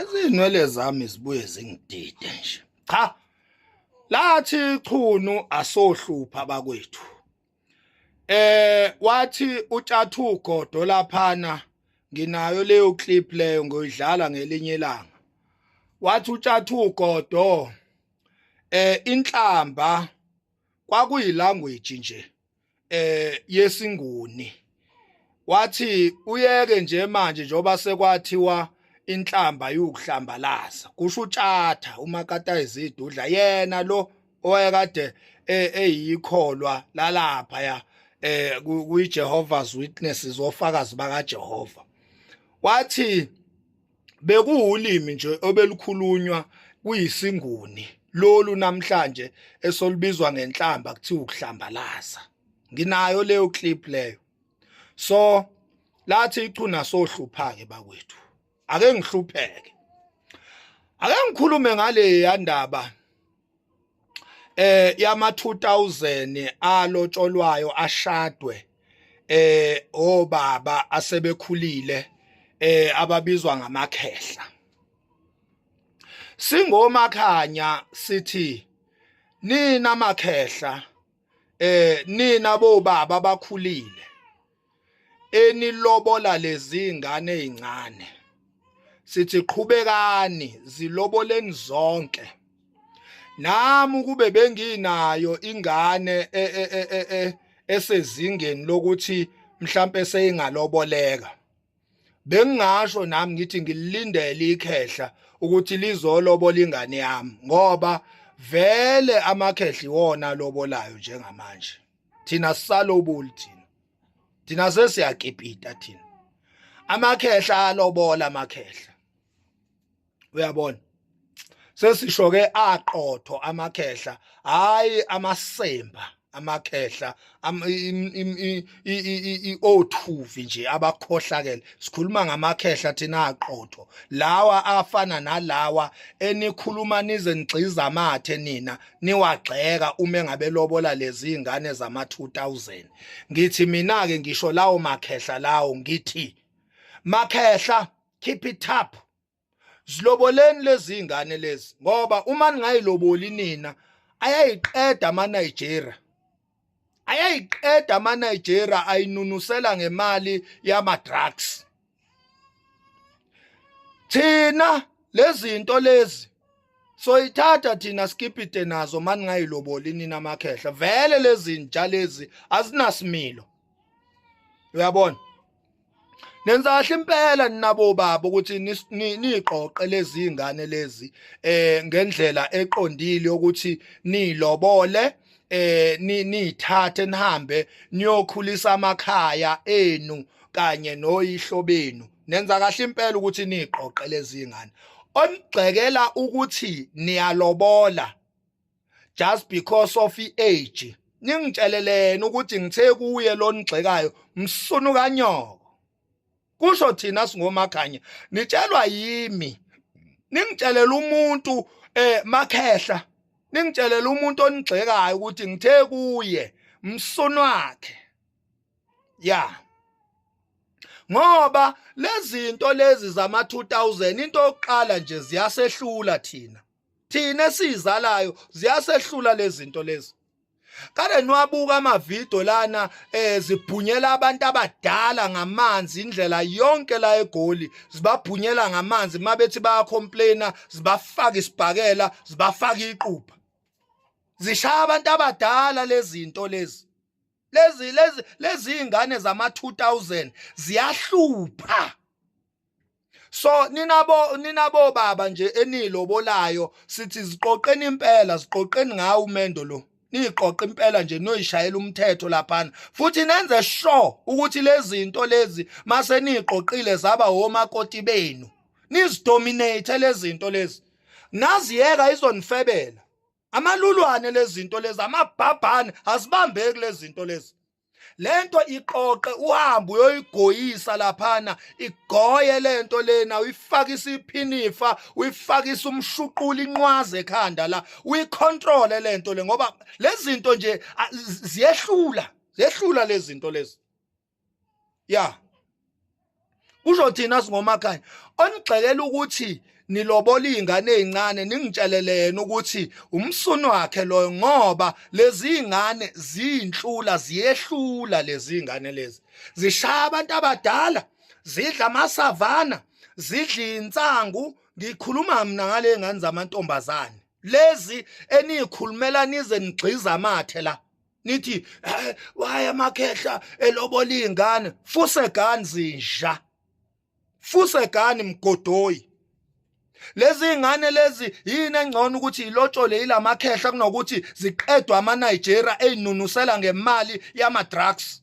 izinwele zami zibuye zingidide nje cha lathi chunu asohlupha bakwethu eh wathi utshathu godo laphana nginayo leyo clip leyo ngoyidlala ngelinye ilanga wathi utshathu ugodo eh inhlamba kwakuyilanguage nje eh yesinguni wathi uyeke nje manje njoba sekwathiwa inhlamba yukuhlambalaza kusho utshatha umakata izidudla yena lo owayekade e, eyikholwa lalapha ya eh kuyiJehovah's Witnesses ofakazi bakaJehova wathi bekuwulimi nje obelukhulunywa kuyisinguni lolu namhlanje esolubizwa ngenhlamba kuthiwa ukuhlambalaza nginayo leyo clip leyo so lathi ichuna sohluphake bakwethu ake ngihlupheke ake ngikhulume ngale yandaba eh yama 2000 alotsholwayo ashadwe eh obaba asebekhulile eh ababizwa ngamakhehla singomakhanya sithi nina makhehla eh nina bobaba bakhulile enilobola lezi ngane ezincane sithi qhubekani ziloboleni zonke nami ukube benginayo ingane e, e, e, esezingeni lokuthi mhlambe seyingaloboleka bengingasho nami ngithi ngilindele ikhehla ukuthi lizolobola ingane yami ngoba vele amakhehla iwona lobolayo njengamanje thina sisaloboli thina thina sesiyakipita thina amakhehla alobola amakhehla uyabona sesisho ke aqotho amakhehla hayi amasemba amakhehla i-othuvi nje abakhohlakele sikhuluma ngamakhehla thina aqotho lawa afana nalawa enikhuluma nize nigxiza amathe nina niwagxeka uma engabe lobola lezi ingane zama 2000 ngithi mina ke ngisho lawo makhehla lawo ngithi makhehla keep it up ziloboleni lezi ingane lezi ngoba uma ningayiloboli nina ayayiqeda ama Nigeria ayayiqeda ama Nigeria ayinunusela ngemali yama drugs thina lezinto lezi soyithatha thina skipite nazo mani ngayiloboli nina amakhehla vele lezinja lezi azinasimilo uyabona nenzahle impela ninabo baba ukuthi niqoqe lezi ngane lezi eh ngendlela eqondile ukuthi nilobole eh nithathe nihambe niyokhulisa amakhaya enu kanye noyihlo benu nenza kahle impela ukuthi niqoqe lezi ngane onigxekela ukuthi niyalobola just because of i-age ningitsheleleni ukuthi ngithe kuye lonigxekayo msunu kanyoko kusho thina singomakhanya nitshelwa yimi ningitshelela umuntu eh makhehla ningitshelela umuntu onigxekayo ukuthi ngithe kuye msunu wakhe ya ngoba lezinto lezi zama 2000 into yokuqala nje ziyasehlula thina thina esizalayo ziyasehlula lezinto lezi kade nwabuka amavidiyo lana eh zibhunyela abantu abadala ngamanzi indlela yonke la egoli zibabhunyela ngamanzi mabethi bayacomplaina zibafaka isibhakela zibafaka iqupha zishaya abantu abadala lezinto lezi lezi lezi lezi ingane zama 2000 ziyahlupha so ninabo ninabo baba nje enilobolayo sithi ziqoqeni impela ziqoqeni ngawo umendo lo niqoqa impela nje noyishayela umthetho laphana futhi nenze sure ukuthi lezinto lezi mase niqoqile zaba homakoti benu nizidominate lezinto lezi naziyeka izonifebela amalulwane lezinto lezi amabhabhane azibambeki lezinto lezi lento iqoqe uhambe uyoyigoyisa laphana igoye lento lena uyifaka isiphinifa uyifaka isumshuqula inqwaze ekhanda la uyicontrol lento le ngoba lezinto nje ziyehlula zehlula lezinto lezi ya kusho thina singomakhaya onigxekela ukuthi nilobola izingane ezincane ningitshelelene ukuthi umsunu wakhe loyo ngoba lezi zingane zinhlula ziyehlula lezi zingane lezi zishaya abantu abadala zidla amasavana zidla insangu ngikhuluma mina ngale ngane zamantombazane lezi eniyikhulumela nize nigxiza amathe la nithi eh, waye amakhehla elobola izingane fuse gani zinja fuse gani mgodoyi lezi ngane lezi yini engcono ukuthi ilotshole ilamakhehla kunokuthi ziqedwe ama Nigeria ezinunusela ngemali yama drugs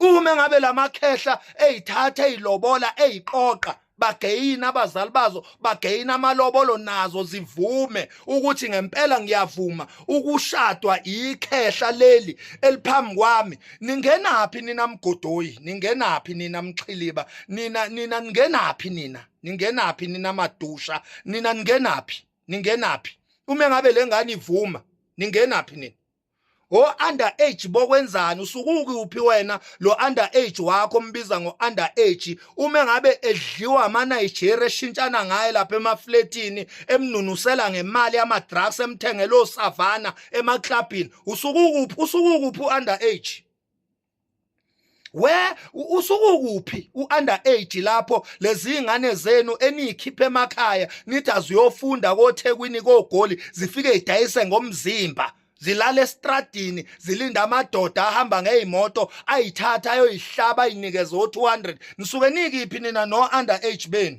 uma ngabe lamakhehla ezithatha ezilobola eziqoqa bageyina abazali bazo bageyina amalobolo nazo zivume ukuthi ngempela ngiyavuma ukushadwa ikhehla leli eliphambi kwami ningenaphi nina mgodoyi ningenaphi nina mxhiliba nina nina ningenaphi nina ningenaphi nina madusha nina ningenaphi ningenaphi uma ngabe lengane ivuma ningenaphi nina o under age bokwenzani usukuki uphi wena lo under age wakho mbiza ngo under age uma ngabe edliwa ama Nigeria eshintshana ngaye lapha emafletini emnunusela ngemali yama drugs emthengelo savana emaclubini usukukuphi usukukuphi under age we usukukuphi uunder age lapho lezi ingane zenu eniyikhiphe emakhaya nithi aziyofunda kothekwini kogoli zifike idayise ngomzimba zilala estradini zilinda amadoda ahamba ngeyimoto ayithatha ayoyihlaba inikeze o200 nisuke nikiphi nina no under age benu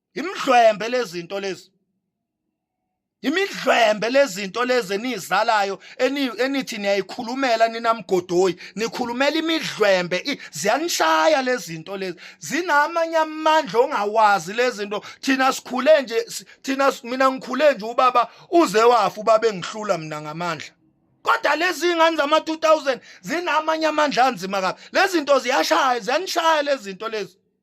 imidlwembe lezinto lezi imidlwembe lezinto lezi enizalayo enithi niyayikhulumela ninamgodoyi nikhulumela imidlwembe ziyanishaya lezinto lezi zinamanye amandla ongawazi lezinto thina sikhule nje thina mina ngikhule nje ubaba uze wafa ubaba engihlula mina ngamandla kodwa lezi ngane zama 2000 zinamanye amandla anzima kabi lezinto ziyashaya ziyanishaya lezinto lezi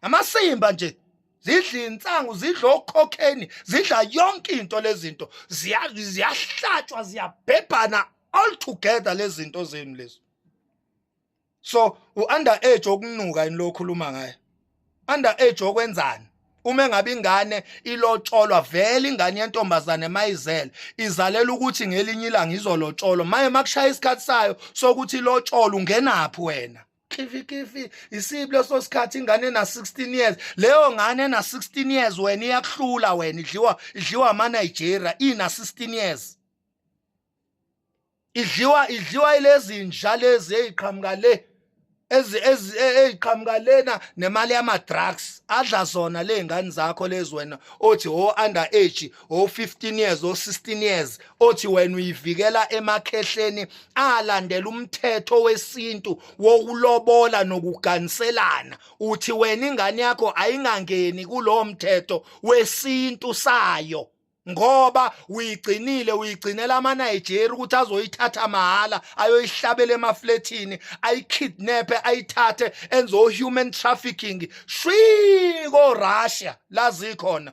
amasimba nje zidla insangu zidla okhokheni zidla yonke into lezinto ziyahlatshwa ziyabhebhana all together lezinto zenu lezo so u under age okunuka yini lokhuluma ngaye under age okwenzani uma engabe ingane ilotsholwa vele ingane yentombazane mayizele izalela ukuthi ngelinye ilanga izolotsholwa maye makushaya isikhathi sayo sokuthi ilotsholwa ungenaphi wena khifikhifi isibi leso sikhathi ingane na 16 years leyo ngane na 16 years wena iyakuhlula wena idliwa idliwa ama Nigeria ina 16 years idliwa idliwa ilezi nja lezi eziqhamuka le ezi ezi eziqhamuka lena nemali yama drugs adla zona lezingane zakho lezi wena othi ho oh, under age o-15 years o-16 years othi wena uyivikela emakhehleni alandela umthetho wesintu wokulobola nokuganiselana uthi wena ingane yakho ayingangeni kulowo mthetho wesintu sayo ngoba uyigcinile uyigcinela amaNigeria ukuthi azoyithatha mahhala ayoyihlabela emaflethini ayikidnape ayithathe enzo human trafficking shwi ko Russia lazi khona